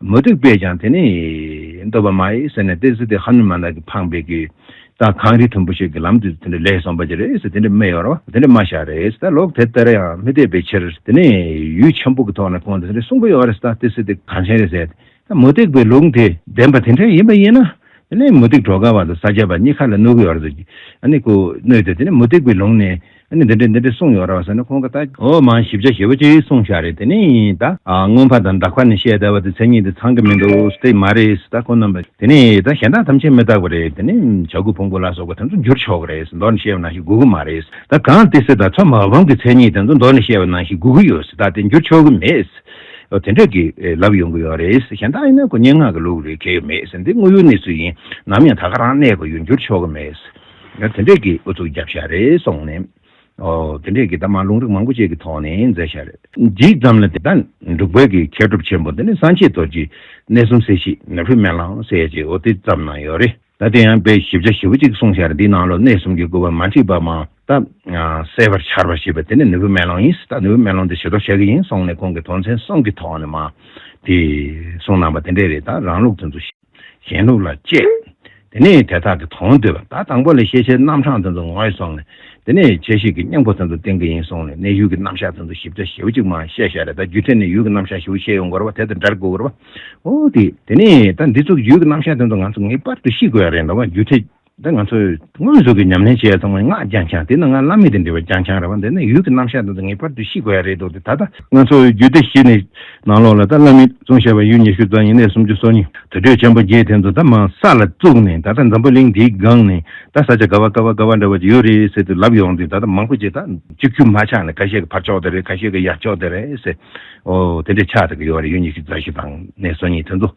མུ་སྟེགས་པས་ཀྱང་དེ་ནི། འདོད་པ་མ་ཡིན་ཟེར་ནས་དེ་ཟིལ་དེ་ཧ་ནུ་མ་ན་གི་འཕངས་པས་གི། ད་གངས་རི་དུམ་བུ་ཞིག་གི་ལམ་དུ་དེ་འདྲ་ལས་སོང་བ་ཅི་རེད་ཟེར་དེ་འདྲ་སྨྲས་ཡོང་རོགས་དེ་འདྲ་སྨྲ་ཤག་རེད་ཟེར་ད་ལོག་དེ་ལྟར་ཡང་མི་བསྡད་པའི་ཕྱིར་དེ་ནི་ཡུལ་ཆེན་པོ་གི་ཐོག་ན་ཁོང་དེ་འདྲ་གསུངས་གི་ཡོད་རེད་ཟེར་ད་དེ་ཟིལ་དེ་གངས་ཆེན་རེད་ཟེར་ད་མུ་སྟེགས་པའི་ལུང་དེ་བདེན་པ་དེ་འདྲ་ཡིན་པ་ཡིན་ན་དེ་ནི་མུ་སྟེགས་གྲོགས་ཁ་བ་དང་ས་སྐྱ་པ་གཉིས་ཁ་ལ་བསྣུར་གི་ཡོད་རེད་ཟེར་གི་ཨ་ནི་གོ་ནུས་ཏེ་དེ་ནི་མུ་སྟེགས་པའི་ལུང་ནི། ཨ་ནི་འདི་འདྲས་འདི་འདྲས་གསུངས་ཡོད་རོ་ཟེར་ནས་ཁོང་གི་ལྟ། འོ་མ་ཞིབ་ཆ་ཞེ་བོ་གཅིག་གསུངས་ཤག་རེད་དེ་ནི་ཡིན་ད། སྔོན་ཕར་དང་འདྲ་ཁ་ནས་བཤད་བསྡད་པ་དེ་མཚན་ཉིད་དེ་ཚང་གི་མི་འདུག་སྟེ་མ་རེད་ད་ཁོ་རྣམ་པ་དེ་ནི་ཡིན་ད་གཞན་དག་ཐམས་ཅད་མི་རྟག་པ་རེད་དེ་ནི་བྱ་རྒོད་བོང་བུ་ལ་སོགས་པ་དེ་ཚོ་འགྱུར་ཆོག་གི་རེད་མདོར་ནས་བཤད་པ་ནང་བཞིན་སྒུག་གི་མ་རེད་ད་གང་ལྟེ་སི་ད་མཚོ་མ་བོང་གི་མཚན་ཉིད་དེ་ཚོ་མདོར་ནས་བཤད་པ་ནང་བཞིན་སྒུག་གི་ཡོད་སྲིད་ད་དེ་འགྱུར་ཆོག་གི་མེད། འོ་དེ་འདྲས་ཀྱི་ལབ་ཡོང་གི་ཡོད་རེད་གཞན་དག་ཡིན་ན་ཁོ་སྙན་ངག་གི་ལུགས་རེད་གལ་ཡོད་མེད་འདི་དངོས་ཡོད་གནས་ཚུལ་ཡིན་ནམ་ཡང་ད་ག་རང་གནས་པ་ཡོད་འགྱུར་ཆོག་གི་མེད། ཡང་དེ་འདྲས་ཀྱི་ཨུ་ཚུགས་རྒྱབ་ཤ་རེད་སོང་ནས། ཨོ། དེ་འདྲས་ཀྱི་ད་མ་ལུང་རིགས་མང་པོ་བཅས་ཀྱི་ཐོག་ནས་མཛད་ཤ་རེད། ཇི་ཙམ་ལ་དེ་དང་འབྲུག་བལ་གྱི་མཁས་གྲུབ་ཆེན་པོ་འདི་ནི་སངས་རྒྱས་རྡོ་རྗེ་གནས་གསུམ་སྲས་བཞི་ནག་ཧྲུལ་མན་ལང་སྲས་བཅས་ཨོ་དེ་ཙམ་ན་ཡོད་རེད་ད་དེ་ཡང་དཔེ་ཞིབ་ཆ་ཞིབ་པོ་གཅིག་གསུང་ཤ་རེད་འདིའི་ནང་ལོ་གནས་གསུམ་གྱི་དགོས་པ་མ་འཁྲིད་པ་མ་ད་གསལ་བར་འཆར་བ་ཞེས་པ་དེ་ནི་ནི་བུ་མན་ལང་ཡིན་སྲིད་ད་ནི་བུ་མན་ལང་འདི་ཞེ་དོགས་བྱ་གི་ཡིན་སོང་ནས་ཁོང་གི་དོན་ཚན་གསུམ་གྱི་ཐོག་ནས་མ་དེ་གསུང་གནང་པ་དེ་འདྲས་རེད་ད་རང་ལུགས་དེ་ཚོ། གཞན་ལུགས་ལ་དཔྱད། དེ་ནས་དེ་དག་གི་དོན་འདོད་པ་ད་དང་པོ་ལས་ཤེས་བྱའི་རྣམ་གྲངས་དེ་ཚོ་ངོས་བཟུང་ནས་དེ་ནས་བྱས་ཤིག་གི་སྙིང་པོ་དེ་ཚོ་བསྟན་གྱི་ཡིན་གསུངས་ནས་གནས་ཡུལ་གྱི་རྣམ་གཞག་དེ་ཚོ་ཞིབ་ཆ་ཞེའུ་གཅིག་མ་བཤད་ཤ་རེ་ད་རྒྱུད་ཐད་ནས་ཡུལ་གྱི་རྣམ་གཞག་ཞེའུ་ཤེས་ཡོང་དགོས་རེ་བ་དེ་དང་འདྲ་རེ་དགོས་དགོས་རེ་བ། འོ་དེ་དེ་ནས་ད་འདི་ཚོ་གི་ཡུལ་གྱི་རྣམ་གཞག་དེ་ཚོ་ང་ཚོ་ངེས་པར་དུ་ཤེས་དགོས་ཡ་རེད་འདོད་པ་རྒྱུད་ཐད། འདི་ང་ཚོས་དངོས་གཟུགས་ཀྱི་ཉམས་ལེན་བྱས་ཙང་མ་སྔགས་རྒྱ་འཁྱང་དེ་ནི་སྔར་བླ་མེད་དུ་འདྲི་བ་རྒྱ་འཁྱང་རེད་བ་འདི་ནི་ཡུལ་གྱི་རྣམ་གཞག་དང་ངེས་པར་དུ་ཤིས་དགོས་ཡ་རེད་འདུག་དེ་ད་ལྟ་ང་ཚོ་རྒྱུད་སྡེ་བཞི་ནས་ནང་ལོགས་ལ་ད་བླ་མེད་གཙོང་བཤད་པ་ཡུལ་ཉི་ཤུ་རྩ་གཉིས་གནས་སུམ་ཅུ་སོ་གཉིས་དུར་ཁྲོད་ཆེན་པོ་བརྒྱད་དེ་ཚོ་ད་མ་ས་ལ་བཙུགས་ནས་ད་ལྟ་འཛམ་བུ་གླིང་འདིའི་སྒང་ནས་ད་ས་ཆ་དགའ་བ་དཀའ་བ་དཀའ་བ་འདྲ་བ་ཡོད་རེད་ཟེར་དུ་ལབ་ཡོང་དུས་ད་ལྟ་མང་པོ་ཅིག་ད་སྤྱི་ཁྱུ་མ་ཆགས་ནས་ག་ཤེད་ཀྱི་ཕར་ཕྱོགས་དེ་རེད་ག་ཤེད་ཀྱི་ཡར་ཕྱོགས་དེ་རེད་ཟེར་འོ་དེ་འདྲས་ཆགས་ཏེ་གི་ཡོད་རེད་ཡུལ་ཉི་ཤུ་རྩ་བཞི་དང་གནས་སོ་གཉིས་དེ་ཚོ།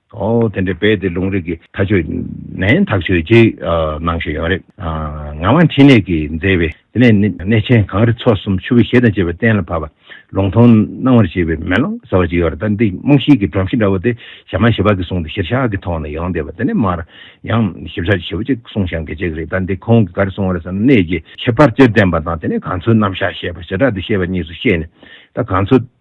དེ་འདྲའི་རྦད་དེ་ལུང་རིགས་ཀྱི་མཐའ་ཆོད་ནས་ཐག་ཆོད་ཅིག་གནང་ཞེས་ཡོང་རེ། ངག་དབང་འཕྲིན་ལས་ཀྱིས་མཛད་པའི་དེ་ནས་གནས་ཆེན་གངས་རི་མཚོ་གསུམ་ཆུ་བོའི་གཞས་དང་བཅས་པ་གཏན་ལ་ཕབ་པ། ལུང་མཐོང་སྣང་བར་བྱེད་པའི་མེ་ལོང་ཟེར་བ་ཅིག་ཡོད་རེ་ད་འདི་རྨོངས་ཤིང་གི་སྒྲོམ་གཞི་འདྲ་བོ་དེ་ཞྭ་མ་ཞེས་པ་གིས་བཟུང་སྟེ་ཤེར་ཤ་གི་ཐོག་ནས་ཡོང་བསྡད་པ་དེ་ནས་མར་ཡང་ཞིབ་ཆ་ཞེ་བོ་ཅིག་གསུང་ཞང་གིས་བྱེད་ཀྱི་རེད་ད་འདི་ཁོང་གིས་ག་རེ་གསུང་བ་རེད་བསམ་ན་གནས་ཀྱི་ཁྱད་པར་སྤྱིར་བསྟན་པ་དང་དེ་ནས་གངས་མཚོའི་རྣམ་གཞག་ཞེས་པ་བྱེ་བྲག་ཏུ་བཤད་པ་གཉིས་སུ་ཤེས་ནས་ད་གངས་མཚོ།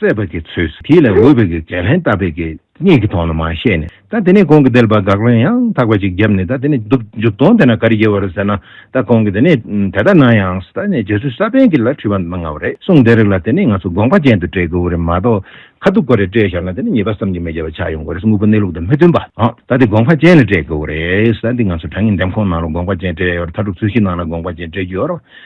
བརྩེ་བ་གི་ཚུལ་དེ་ལས་འོས་པའི་གི་ཇེ་ལྷན་ལྟ་བའི་གི་གཉིས་ཀྱི་དོན་ལ་མ་ཤེས་ནས་ད་དེ་ནས་གོང་གི་དེ་ལ་བ་དགག་ལན་ཡང་དག་པ་ཅིག་བརྒྱབ་ནས་ད་དེ་ནས་འདུག་འཇུག་དོན་དེ་ན་ག་རེ་ཡོད་བ་རེད་ཟེར་ན་ད་གོང་གི་དེ་ནས་དེ་ལྟར་ན་ཡང་ད་ནས་རྗེ་བཙུན་ས་པན་གི་ལ་ཁྲི་བ་མ་ང་བ་རེད་གསུངས་དེ་རིགས་ལ་དེ་ནས་ང་ཚོ་དགོངས་པ་ཅན་དུ་སྤྲད་དགོས་བ་རེད་མ་གཏོགས་ཁ་ཐུག་གོ་རེ་སྤྲད་བཞག་ན་དེ་ནས་ཉེས་པ་བསམ་གྱི་མེད་རྒྱལ་བ་ཆགས་ཡོང་དགོས་རེད་དངོས་པོ་གནས་ལུགས་དང་མི་མཐུན་པ་ད་དེ་དགོངས་པ་ཅན་ལ་སྤྲད་དགོས་བ་རེད་ད་འདི་ང་ཚོ་དྲང་ངེས་འདེམས་ཁོངས་ནང་ལ་དགོངས་པ་ཅན་སྤྲད་ཡོད་རེད་མཐའ་གྲུབ་ཚུལ་བཞིན་ནང་ལ་དགོངས་པ་ཅན་སྤྲད་རྒྱུ་ཡོད་རེད།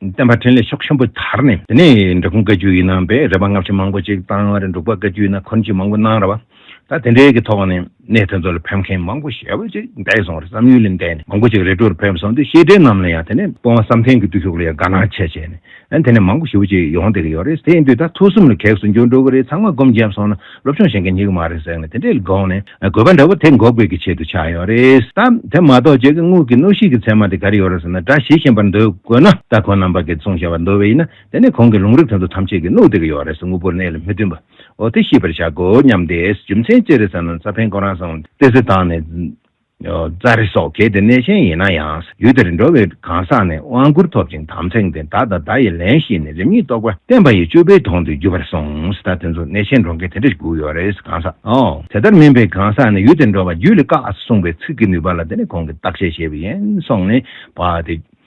བསྟན་པ་འཕྲིན་ལས་ཤོག་ཆེན་པོ་དར་ནས། དེ་ནས་འབྲི་གུང་བཀའ་བརྒྱུད་ཡིན་ནམ་པས་རེ་བ་སྔ་ཕྱི་མང་པོ་ཅིག་བཏང་བར་འབྲུག་པ་བཀའ་བརྒྱུད་ན་འཁོར་འབྱེད་མང་པོ་གནང་ར་བ། ད་དེ་འདྲའི་གི་ཐོག་ནས་གནས་དེ་ཚོ་ལ་ཕེབས་མཁན་མང་པོ་ཞེ་བོ་ཅིག་འདས་སོང་རེད་བསམ་ཡུལ་ལས་འདས་ནས་མང་པོ་ཅིག་རེ་དྲུག་རུ་ཕེབས་སོང་དུས་ཤེས་འབྲེལ་རྣམས་ལ་ཡང་དེ་ནས་དཔོན་བསམ་གཏན་གི་བརྟུལ་ཞུགས་ལ་ཡང་དགའ་སྣང་ཆེ་བྱས་ནས་དེ་ནས་མང་པོ་ཞེ་བོ་ཅིག་ཡོང་བསྡད་གི་ཡོད་རེད་དེ་ཡིན་དུས་ད་ཐུགས་གསུམ་ལ་གེགས་སུ་འགྱུར་འགྲོ་གི་རེད་ཚང་མ་སྒོམ་བརྒྱབ་སོང་ན། སློབ་སྦྱོང་བྱེད་མཁན་ཉིད་མ་རེད་ཟེར་ནས་དེ་འདྲའི་དགོངས་ནས་དགོས་པ་འདྲ་བོ་དེ་འགོག་དགོས་ཀྱི་ཆེད་དུ་ཆགས་ཡོད་རེད་དམ། དེ་མ་གཏོགས་བྱེད་ཀྱི་དངུལ་གྱི་གནོད་ཤུགས་ཀྱི་ཚད་མ་དེ་ག་རེ་ཡོད་རེད་ཟེར་ན་སྒྲ་ཞིག་ཤེས་པར་འདོད་དགོས་ན་སྟ་གོན་རྣམ་པ་དགེ་བཙུན་ཞེས་པ་འདོད་བས་ཡིན་ན་དེ་ནི་གོང་གི་ལུང་རིགས་དོན་དུ་ཐམས་ཅད་ཀྱི་གནོད་དེ་ག་ཡོད་རེད་ཟེར་དངོས་པོར་གནས་ལ་མི་བསྟུན་པའོ་དེ་ཤེས་པར་བྱ་དགོས་སྙམ་སྟེ་རྒྱུ་མཚན་ཅི་རེད་ཟེར་ན་རྩ་ཕན་གོ་རང་བཟང་བ་སྟེ་གཟི་དང་ནི། རྩྭ་རི་སོགས་གལ་ཏེ་གནས་ཆེན་ཡིན་ན་ཡང་ཡུལ་དེར་འགྲོ་བའི་གང་ཟག་ནི་དབང་བསྐུར་ཐོབ་ཅིང་དམ་ཚིག་འདི་བདག་དང་བདག་ཡི་ལན་བཞི་ནི་རིམ་གཉིས་རྟོགས་པ་བསྟན་པ་ཡི་བཅུ་པའི་དོན་དུ་གྱུར་པར་གསུངས་ད་དེ་ཚོ་གནས་ཆེན་འགྲོ་མཁན་དེ་འདྲ་དགུ་ཡོད་རེད་གང་ཟག་དེ་ལྟར་མིན་པའི་གང་ཟག་ནི་ཡུལ་དེར་འགྲོ་བ་རྒྱུད་ལ་བཀག་གསུངས་པའི་ཚིག་གི་ནུས་པ་ལ་དེ་ནི་གོང་གི་བརྟག་དཔྱད་བྱས་པ་ཡིན་སོང་ནས་བ་དེ།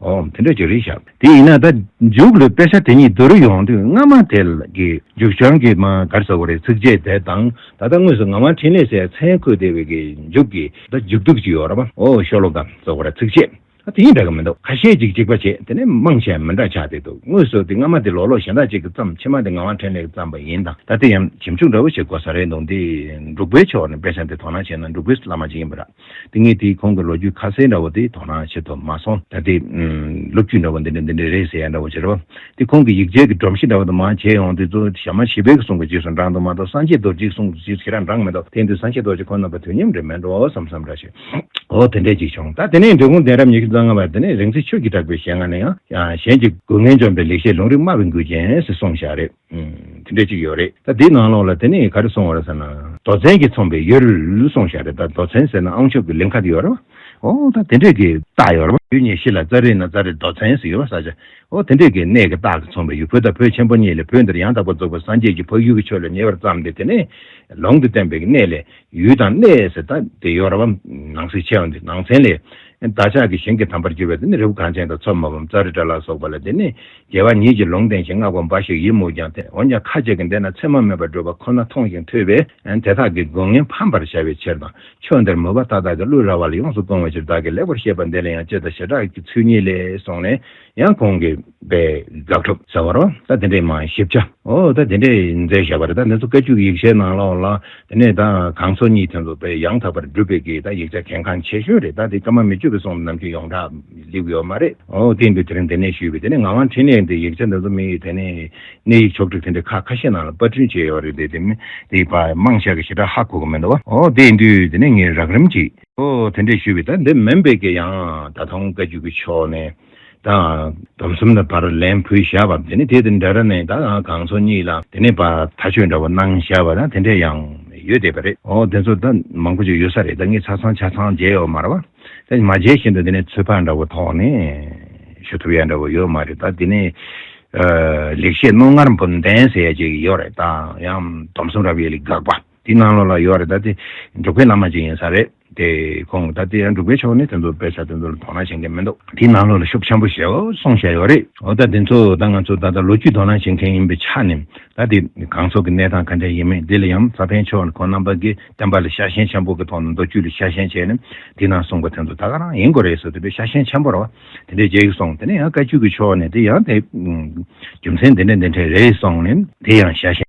འོ། དེ་འདྲ་ཅིག་རེད་ཤག་དེ་ཡིན་ན་ད་མཇུག་ལ་དཔེ་ཆ་དེ་གཉིས་བསྡུར་ཡོང་དུས་སྔ་མ་དེ་ལ་གི་མཇུག་བྱང་གི་མ་གར་ཟེར་བ་རེད་ཚིག་རྗེས་དེ་དང་ད་ལྟ་དངོས་སུ་ང་དབང་འཕྲིན་ལས་སའི་མཚན་འཁོད་བསྡད་པའི་གི་མཇུག་གི་ད་མཇུག་སྡུག་ཅིག་ཡོད་ར་པ་འོ་ཤོ་ལོ་ཀ་ཟེར་བ་རེད་ཚིག་རྗེས་ཨ་དེ་གཉིས་འདྲ་གི་མི་འདུག་ཁ་ཤས་ཅིག་གཅིག་པ་བྱེད་དེ་ནས་དམངས་ཆེན་མི་འདྲ་ཆགས་བསྡད་འདུག་དངོས་སུ་དེ་སྔ་མ་དེ་ལོག་ལོག་གཞན་དག་ཅིག་གི་བརྩམས་ཕྱི་མ་དེ་ང་དབང་འཕྲིན་ལས་ཀྱི་བརྩམས་པ་ཡིན་དང་ད་དེ་ཡང་ཞིབ་འཇུག་འདྲ་བོ་ཞིག་དགོས་ས་རེད་འདུག་འདི་འབྲུག་པའི་ཕྱོགས་ནས་དཔེ་ཆ་དེ་དོ་སྣང་བྱས་ན་འབྲུག་པའི་བླ་མ་ཅིག་ཡིན་པ་ར། ཏིང་ངེ་འཛིན་ཁོང་གི་ལོ་རྒྱུས་ཁ་གསལ་འདྲ་བོ་དེ་དོ་སྣང་བྱེད་དུ་མ་སོང། ད་དེ། ལོ་རྒྱུས་འདྲ་བོ་འདི་འདྲ་འདི་འདྲ་རེད་ཟེར་ཡ་འདྲ་བོ་བྱེད་རོགས། དེ་ཁོང་གི་ཡིག་ཆའི་གི་སྒྲོམ་གཞི་འདྲ་བོ་དུ་མ་བྱས་ཡོང་དེ་ཚོ་ཞྭ་མ་ཞི་བའི་གི་གསུང་གི་རྗེས་སུ་འབྲངས་འདུག་མ་གཏོགས་སངས་རྒྱས་རྡོ་རྗེའི་གསུང་རྗེས་སུ་ཁྱེད་རང་འབྲངས་མི་འདུག་དེང་དུས་སངས་རྒྱས་རྡོ་རྗེ་ཁོ་ན་པ་དུས་མཉམ་རེད་མེད་འགྲོ་བསམ་བསམ་འདྲ་བྱེད། འོ་དེ་འདྲས་ཅིག་བྱུང་ད་དེ་ནས་འབྲི་གུང་གདན་རབས་ཉི་ཤུ་རྩ་ལྔ་པ་དེ་ནས་རིང་བསྲེལ་ཆོས་ཀྱིས་གྲགས་པའི་ཞལ་སྔ་ནས་ཡང་གཞན་གྱི་དགོས་ངན་འཇོམས་པའི་ལེགས་བཤད་ལུང་རིགས་སྨྲ་བའི་མགུལ་ཅན་ཞེས་གསུངས་བཞག་རེད། དེ་འདྲས་ཅིག་ཡོད་རེད་ད་དེའི་ནང་ལོགས་ལ་དེ་ནས་ག་རེ་སོང་བ་རེད་ཟེར་ན། རྡོ་ཚན་གྱིས་ཚོང་པའི་ཡོལ་སོང་ཞག་རེད་ད་རྡོ་ཚན་ཟེར་ན་ཨང་ཆོབ་ཀྱི་ལིང་ག་དེ་ཡོད་རེད་བ། ཨོ་ད་དེ་འདྲས་ཀྱི་རྟགས་ཡོད་རེད་བ། ཡུལ་ཉེ་ཤི་ལ་རྩ་རིག་ན་རྩ་རིག་རྡོ་ཚན་ཟེར་ཡོད་རེད་བསགས་བྱ། ཨོ་དེ་འདྲས་ཀྱི་གནས་ཀྱི་རྟགས་ཀྱིས་ཚོང་པའི་ཡུལ་བོད་དང་བོད་ཆེན་པོ་གཉིས་ལས་བོད་འདིར་ཡང་དག་པར་རྫོགས་པའི་སངས་རྒྱས་ཀྱི་འཕགས་ཡུལ་གྱི་ཆོས་ལ་ཉེ་བར་བརྩམས་ཏེ་དེ་ནས་ལོང་དུ་བསྟན་པའི་གནས་ལས། ཡུལ་དང་གནས་ཟེར་ད་དེ་ཡོ་རབ་བམ་ནང་གསེས་ཆེ་བ་འདི་ནང་ཚན་ལས། བདག་ཅག་གི་གཞན་གྱི་དམ་པར་གྱུར་པའི་དེ་ནི་རི་བོ་གངས་ཅན་དང་མཚོ་མོ་བམ་ཙཱ་རི་ཏྲ་ལ་སོགས་པ་ལ་དེ་ནི་རྒྱལ་བ་ཉིད་ཀྱིས་ལུང་བསྟན་ཞིང་བསྔགས་པ་འབའ་ཞིག་ཡིན་མོད་ཀྱང་འོན་ཀྱང་ཁ་ཅིག་གིས་འདས་ན་མཚན་མ་མེད་པར་འགྲོ་བ་ཁོ་ན་མཐོང་ཞིང་ཐོས་པས་དེ་དག་གི་དགོས་ངན་ཕམ་པར་བྱ་བའི་ཕྱིར་དང་ཕྱོགས་འདིར་མོས་པ་མཐའ་དག་གི་བློའི་ར་བ་ལ་ཡོངས་སུ་སྤོང་བའི་ཕྱིར་བདག་གིས་ལེགས་པར་བཤད་པ་འདི་ལ་ཡང་སྤྱི་དང་བྱེ་བྲག་གི་ཚུལ་གཉིས་ལས་སོགས་ནས། ཡང་གོང་གི་པའི་དགག་སྒྲུབ་ཟེར་བ་རོ། ད་དེ་འདྲའི་མ་ཞིབ་ཆ། འོ་ད་དེ་འདྲའི་མཛད་བཞག་པ་རེད་ད་འདི་ཚོ་བཀའ་བཅུ་ཡིག་ཆའི་ནང་ལོགས་ལ་དེ་ནས་ད་གང་ཚོ་གཉིས་ཐོན་འདུག་པས་ཡང་དག་པར་སྒྲུབ་པའི་གི་ད་ཡིག་ཆ་གལ་འགངས་ཆེ་ཤོས་རེད་ད་དེ་ཀ་མ་མི་ཆོད་པའི་སོང་ནམ་རྒྱུན་ཡོངས་གྲགས་ལེགས་ཡོད་མ་རེད་འོ་དེ་འདུག་དེ་རིང་དེ་ནས་ཞུས་པའི་དེ་ནས་ང་ང་འཕྲིན་ལས་འདི་ཡིག་ཆ་འདི་ཚོ་མི་ཡིས་དེ་ནས་གནས་ཡིག་ཕྱོགས་བསྒྲིགས་དེ་འདྲའི་ཁག་ཁ་ཤས་ནང་ལ་པར་སྐྲུན་བྱས་ཡོད་རེད་དེ་དེ་མིན་དེ་པདྨ་ཤག་གི་ཞེ་དྲག་ཧ་གོ་གི་མི་འདུག་བ་འོ་དེ་འདུག་དེ་ནས་ངས་རགས་རིམ་གྱིས། ཨོ་དེ་འདྲས་ཞུས་པས་ད་འདི་མན་བེ་ཀེ་ཡང་ད་ཐང་བཀའ་བརྒྱུད་ཀྱི་ཕྱོགས་ནས་ད་དམ་གསུམ་ལ་བར་ལན་ཕུལ་བཞག་པ་དེ་ནས་དེ་དེ་འདྲ་ར་ནས་ད་གང་ཚོགས་གཉིས་ལ་དེ་ནས་པ་ད་ཆོས་འདྲ་བ་གནང་བཞག་པ་ད་དེ་འདྲས་ཡང་ཡོད་བསྡད་པ་རེད་ཨོ་དེ་ཚོ་ད་མང་པོ་ཅིག་ཡོད་ས་རེད་ད་ངས་ཆ་ཚང་ཆ་ཚང་མཇལ་ཡོད་མ་ར་བ་ད་མ་མཇལ་བཞིན་དུ་དེ་ནས་ཚོད་དཔག་འདྲ་བོ་ཐོག་ནས་ཞུ་ཐུབ་ཡག་འདྲ་བོ་ཡོད་མ་རེད་ད་དེ་ནས་ལེགས་བཤད་རྣོ་ངར་འབུམ་ལྡན་ཟེར་ཡག་ཅིག་ཡོད་རེད་ད་ཡང་དམ་གསུམ་རབ་ཡེ་ལི་དགག་པ། དེ་སྔ་ལོ་ལ་ཡོད་རེད་ད་དེ་འབྲུག་པའི་བླ་མ་ཅིག་ཡིན་ས་རེད་དེ་ཁོང་ད་དེ་འབྲུག་པའི་ཕྱོགས་ནས་དེ་ཚོ་དཔེ་ཆ་དེ་ཚོ་ལ་དོ་སྣང་བྱེད་མཁན་མི་འདུག་དེ་སྔ་ལོ་ལ་ཤུགས་ཆེན་པོ་ཞིག་གསུངས་བཞག་ཡོད་རེད་འོ་ད་དེ་ཚོ་ད་ང་ཚོ་ད་ལྟ་ལོ་རྒྱུས་དོ་སྣང་བྱེད་མཁན་ཡིན་པའི་ཆ་ནས་ད་དེ་གང་ཚོགས་ཀྱི་གནས་སྟངས་ག་འདྲ་ཡིན་མིན་དེ་ལ་ཡང་ས་པཎ་ཆོས་ལ་ཁོང་རྣམ་པ་གིས་བསྟན་པ་ལ་ཤ་ཞེན་ཆེན་པོ་གི་ཐོག་ནས་མདོ་རྒྱུད་ལ་ཤ་ཞེན་བྱས་ནས་དེ་ནང་གསུངས་པ་དེ་ཚོ་ད་ག་རང་ཡིན་དགོས་རེད་ཟེར་དུས་དེ་ཤ་ཞེན་ཆེན་པོ་རེད་བ་དེ་འདྲའི་རྗེས་སོང་དེ་ནས་ཡང་བཀའ་བརྒྱུད་ཀྱི་ཕྱོགས་ནས་དེ་ཡང་དེ་རྒྱུ་མཚན་འདི་འདྲ་འདི་འདྲ་རེད་སོང་ནས་དེ་ཡང་ཤ་ཞེན།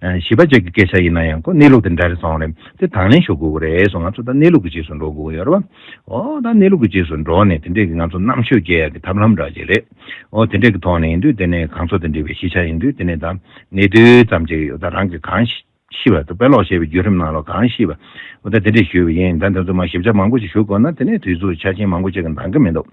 བྱིས་པ་བཅས་ཀྱི་སྐད་ཆ་ཡིན་ན་ཡང་ཁོ་གནས་ལུགས་དེ་འདྲ་རེད་སོང་རེད་དེ་དང་ལེན་ཞུ་དགོས་ཀྱི་རེད་སོང་ང་ཚོ་ད་གནས་ལུགས་ཀྱི་རྗེས་སུ་འགྲོ་དགོས་ཀྱི་ཡོད་རེད་བ། འོ་ད་གནས་ལུགས་ཀྱི་རྗེས་སུ་འགྲོ་ནས་དེ་འདྲས་ཀྱི་ང་ཚོ་རྣམ་དཔྱོད་རྒྱས་ཡག་གི་ཐབས་ལམ་འདྲ་བྱེད་རེད་འོ་དེ་འདྲས་ཀྱི་ཐོག་ནས་ཡིན་དུས་དེ་ནས་གང་ཚོགས་དེ་འདྲས་པའི་ཤེས་བྱ་ཡིན་དུས་དེ་ནས་ད་གནས་དུས་ཙམ་བྱེད་ཀྱི་ཡོད་ད་རང་གིས་གང་ཤེས་པ་ད་དཔེ་ཀློག་ཤེས་པའི་བརྒྱུད་རིམ་ནང་ལོག་གང་ཤེས་པ་འོ་ད་དེ་འདྲས་ཞུས་པ་ཡིན་ད་དེ་ཚོ་མ་ཞིབ་ཆ་མང་པོ་ཞིག་ཞུ་དགོས་ན་དེ་ནས་དུས་ཚོད་ཆ་རྐྱེན་མང་པོ་ཅིག་གི་འདང་གི་མི་འདུག་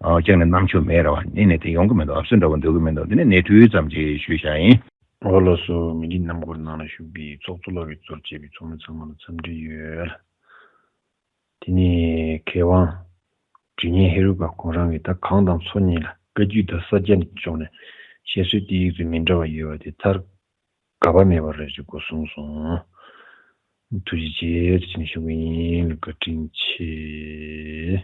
ཨོ་ཅིག་ནས་རྣམ་དཔྱོད་མེད་རེད་བ་གཉིས་ནས་དེ་ཡོང་གི་མི་འདུག་ཨབ་སོད་འདྲ་བོ་འདོད་ཀྱི་མི་འདུག་དེ་ནས་གནས་དུས་ཙམ་བྱེད་ཞུས་བྱ་ཡིན། ཨོ་ལོ་སུ་མི་རིགས་རྣམ་འགོར་ནང་ལ་ཞུགས་པའི་ཚོགས་གཙོ་ལོ་ཝི་ཙོར་བཅས་པའི་ཚོགས་མི་ཚང་མ་ལ་འཚམས་འདྲི་ཡོད། དེ་ནས་མཁས་དབང། དྲི་བརྙན་ཧེ་རུ་ཀ་ཁོང་རང་གིས་ད་གང་དང་ཚོགས་གཉིས་ལ་བཀའ་བརྒྱུད་དང་ས་སྐྱ་ནས་ཕྱོགས་ནས་བཤད་སྲོལ་དེ་ཡིག་ཚོད་མི་འདྲ་བ་ཡོད་པ་དེ་ཚར་དགའ་བ་མེད་པ་རེད་ཅེས་སྒོ་སྲུང་སོང། ཐུགས་རྗེ་ཆེ་རེ་བྱས་ནས་ཞུ་གི་ཡིན་ལ་བཀའ་དྲིན་ཆེ།